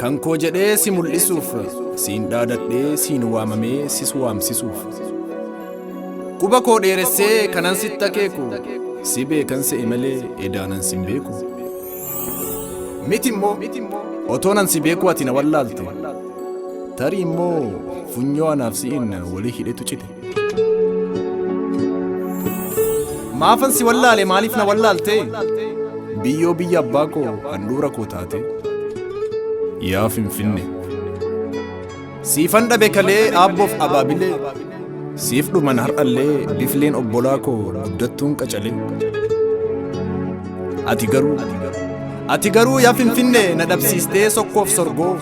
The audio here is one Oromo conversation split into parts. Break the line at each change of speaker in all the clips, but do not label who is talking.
Kan koo jedhee si mul'isuuf siin dhaadadhee siin waamamee sis waamsisuuf. Quba koo dheeressee kanan sitti akeeku si beekan se'e malee edaanan sin beeku. Miti immoo otoonan si beeku ati na wallaalte tarii immoo funyoo anaaf si'in walii hidhetu cite. Maafan si wallaale maaliif na wallaaltee? Biyyoo biyya abbaa koo handhuura koo taate. Yaa Finfinne. Siifan dhabe kalee aabboof abaabilee. Siif dhuman har'allee bifleen obbolaa koo guddattuun qacalee. Ati garuu Ati garuu yaa finfinnee na dhabsiistee sokkoof sorgoo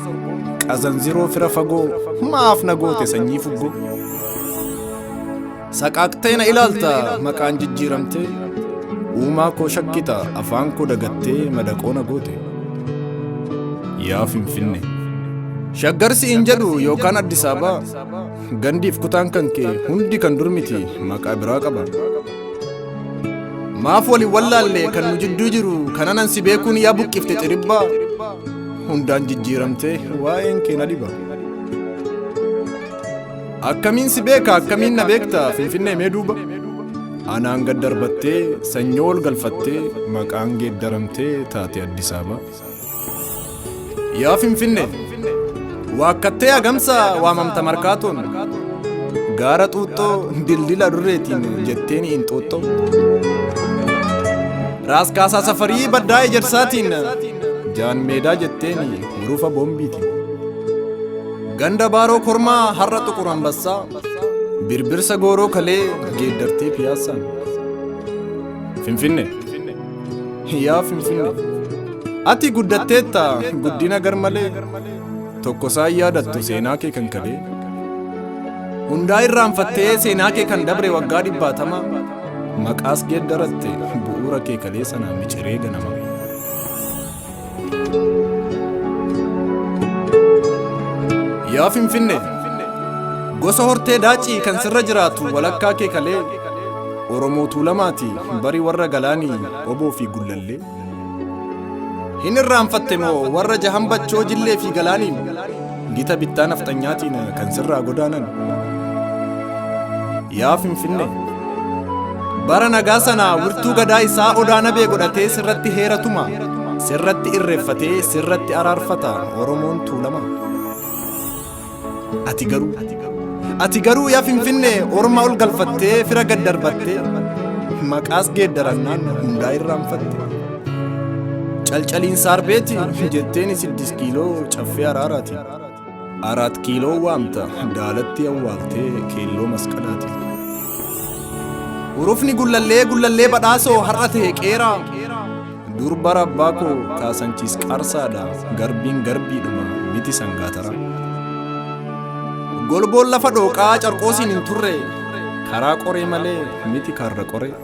qazanziroo fira fagoo maaf na goote sanyii fuggoo saqaaqtee na ilaalta maqaan jijjiiramtee uumaa koo shakkita afaan koo dagattee madaqoo na goote yaa finfinne shaggarsi hin jedhu yookaan addisaabaa gandiif kutaan kan kee hundi kan durmiti maqaa biraa qaba. maaf wali wallaalle kan nu jidduu jiru kananan si beekuun yaa buqqifte xiribbaa hundaan jijjiiramte waa'een kee na dhiba akkamiin si beeka akkamiin na beekta finfinnee mee duuba anaan gad darbattee sanyoo ol galfattee maqaan geeddaramtee taate addisaaba Yaa Finfinne, waakkattee agamsa waamamta markaatoon, gaara xuuxxoo dildila durreetiin jetteen inxooxxoo. Raas kaasaa safarii baddaa ejersaatiin, jaan meedaa jetteen hurufa boombiitiin. Ganda baaroo kormaa har'a xuqur ambassaa, birbirsa gooroo kalee geeddartee piyaassaan. Finfinne. Yaa Finfinnee, ati guddatteetta guddina garmalee, tokko isaa hin yaadattu seenaa kee kan kalee. Hundaa irraanfattee seenaa kee kan dabre waggaa dhibbaatama, maqaas geeddaratte bu'uura kee kalee sana miciree ganama. Yaa Finfinne gosa hortee daacii kan sirra jiraatu walakkaa kee kalee Oromoo Tuulamaati bari warra galaanii oboo fi gullallee. Hin irraanfatte moo warra jahan bachoo jillee fi galaaniin Gita bittaa nafxanyaatiin kan sirraa godaanan. Yaa Finfinnee! Bara nagaa sana wirtuu gadaa isaa odaa nabee godhatee sirratti heera tuma. Sirratti irreeffatee sirratti araarfata Oromoon tuulama. Ati garuu Ati garuu yaa Finfinnee orma ol galfattee fira gad darbattee maqaas geeddarannaan hundaa irraanfatte. Calcaliin saarbeeti jetteen siddis kiiloo caffee araaraati. Araat kiiloo waamta daalatti awwaaltee keelloo masqalaati. Urufni gullallee gullallee badhaasoo har'a ta'e qeeraa. Dur bara abbaa koo kaasanchiis qaarsaadha garbiin garbiidhuma miti sangaatara. Golboon lafa dhooqaa carqoosiin hin turre karaa qoree malee miti karra qoree.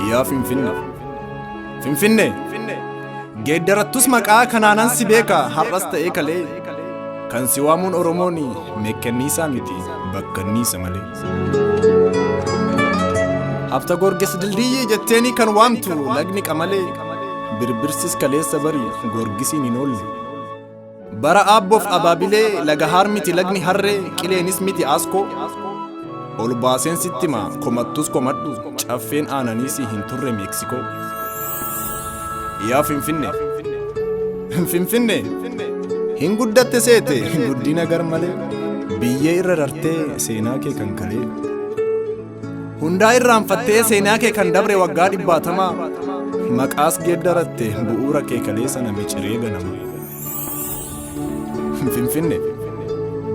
Yaa Finfinne. Finfinne. Geeddarattus maqaa kanaanan si beeka har'as ta'ee kalee. Kan si waamuun Oromoon meekkanniisaa miti bakkanniisa malee. Hafta gorges dildiyyii jetteenii kan waamtu lagni qamalee. Birbirsis kaleessa bari gorgisiin hin oolle. Bara Aabboof Abaabilee Lagahaar miti lagni harree qileenis miti aaskoo Ol baaseen sitti maa komattus komadhu caffeen aananii si hin turre Meeksikoo Yaa Finfinne Finfinne hin guddatte seete guddina gar malee biyyee irra rartee seenaa kee kan kalee Hundaa irraanfattee seenaa kee kan dabre waggaa dhibbaatamaa maqaas geeddaratte bu'uura kee kaleessa na miciree ganama. Finfinne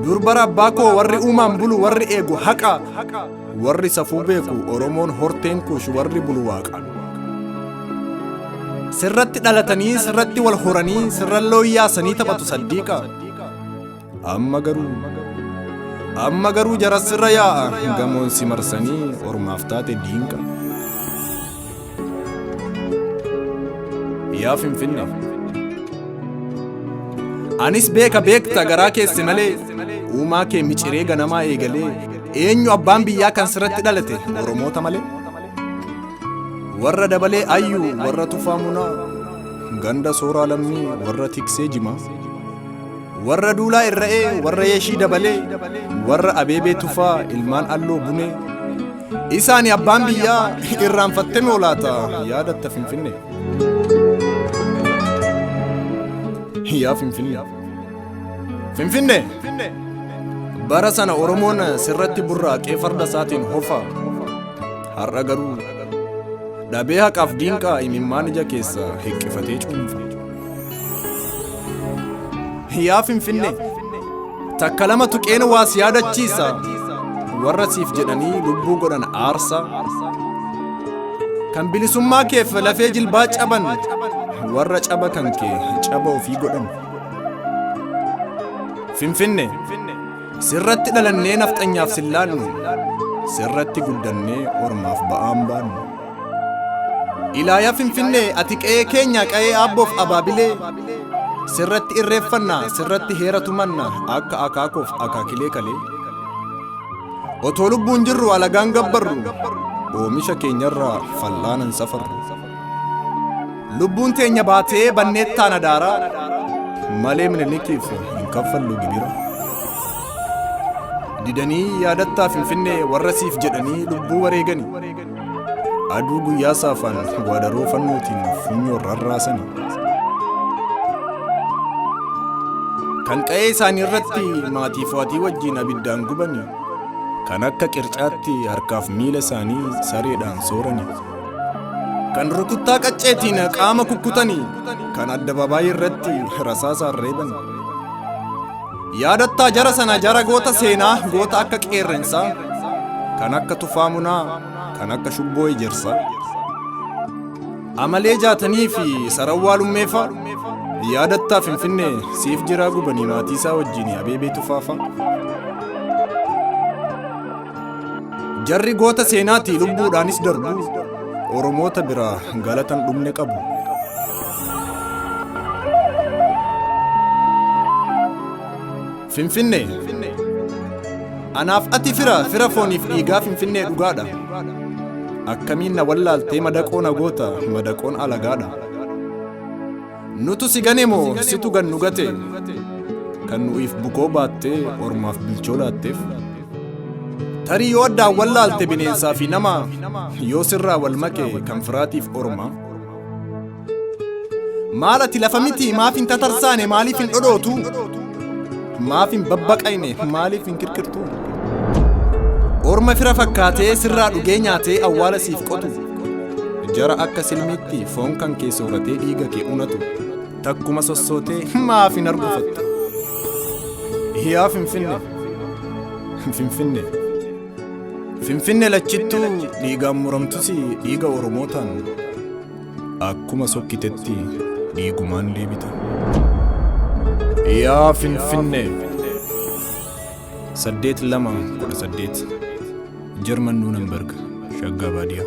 dur bara abbaa koo warri uumaan bulu warri eegu haqa warri safuu beeku Oromoon horteen kuush warri bulu waaqa. Sirratti dhalatanii sirratti wal horanii sirran looyyaasanii taphatu saddiiqa. Amma garuu amma garuu jarassirra yaa'a gamoon si marsanii ormaaf taate diinqa. Yaa Finfinnee. Anis beeka beekta garaa keesse malee uumaa kee miciree ganamaa eegalee eenyu abbaan biyyaa kan sirratti dhalate Oromoota malee. Warra dabalee ayyuu warra tufaa munaa ganda sooraa lammii warra tiksee jimaa. Warra Duulaa Irra'ee, warra Yeshii Dabalee, warra Abeebee Tufaa, ilmaan Alloo Bunee. Isaani abbaan biyyaa irraanfattee moo laata yaadatta Finfinnee. Yaa Finfinnee. Finfinnee. Bara sana Oromoon sirratti burraaqee farda isaatiin hofa. Har'a garuu dhabee haqaaf diinqaa imimmaan ija keessa hiqqifatee cuunfa. Yaa Finfinnee takka lama tuqeen waa si yaadachiisa warra siif jedhanii lubbuu godhan aarsa kan bilisummaa keef lafee jilbaa caban warra caba kan kee caba ofii godhan Finfinne sirratti dhalannee nafxanyaaf sillaallu sirratti guddannee ormaaf ba'aan baannu. Ilaaya Finfinnee ati qe'ee keenya qa'ee aabboof abaabilee sirratti irreeffanna sirratti heera tumanna akka akaakoof akaakilee kalee otoo lubbuun jirru alagaan gabbarru oomisha keenyarraa fal'aanan safarru lubbuun teenya baatee banneettaan adaaraa malee minilikiif hin kaffallu gibira didanii yaadattaa finfinnee warra siif jedhanii lubbuu wareegani Aduu guyyaa saafaan waadaroo fannootiin funyoo rarraasani. Kan qa'ee isaanii irratti maatii fo'atii wajjin abiddaan gubani. Kan akka qircaatti harkaaf miila isaanii sareedhaan soorani. Kan rukuttaa qacceetiin qaama kukkutani. Kan addabaabaayii irratti rasaasaan reebani. Yaadattaa jara sana jara goota seenaa goota akka qeerrensaa kan akka tufaa munaa kan akka shubboo ejersa amalee jaatanii fi sarawwaa lummeefa yaadattaa finfinnee siif jiraa gubanii maatii isaa wajjin abeebee tufaafa jarri goota seenaatii lubbuudhaanis darbu oromoota biraa galatan dhumne qabu Finfinnee. Anaaf ati fira fira fooniif dhiigaa Finfinnee dhugaadha. Akkamiin na wallaaltee madaqoo na goota madaqoon alagaadha. Nutu si gane moo situ gan nu gate kan nu'iif bukoo baattee ormaaf bilchoo laatteef. Tarii yoo addaan wallaalte bineensaa fi nama yoo sirraa wal make kan firaatiif ormaa. Maal ati lafa miti maaf hin tatarsaane maaliif hin dhodhootu? Maaf hin babbaqayne maaliif hin kirkirtu? Orma fira fakkaatee sirraa dhugee nyaatee awwaala siif qotu. Jara akka silmiitti foon kan kee sooratee dhiiga kee unatu. Takkuma sossootee maaf hin argufattu? Yaa Finfinne! Finfinne! Finfinne lachittuu dhiigaan muramtus dhiiga Oromootaan akkuma sokkitetti dhiigumaan deebita. Yaa Finfinne! saddeet lama kudha saddeet Jarman Nuunenberg Shaggaa Baadiyaa.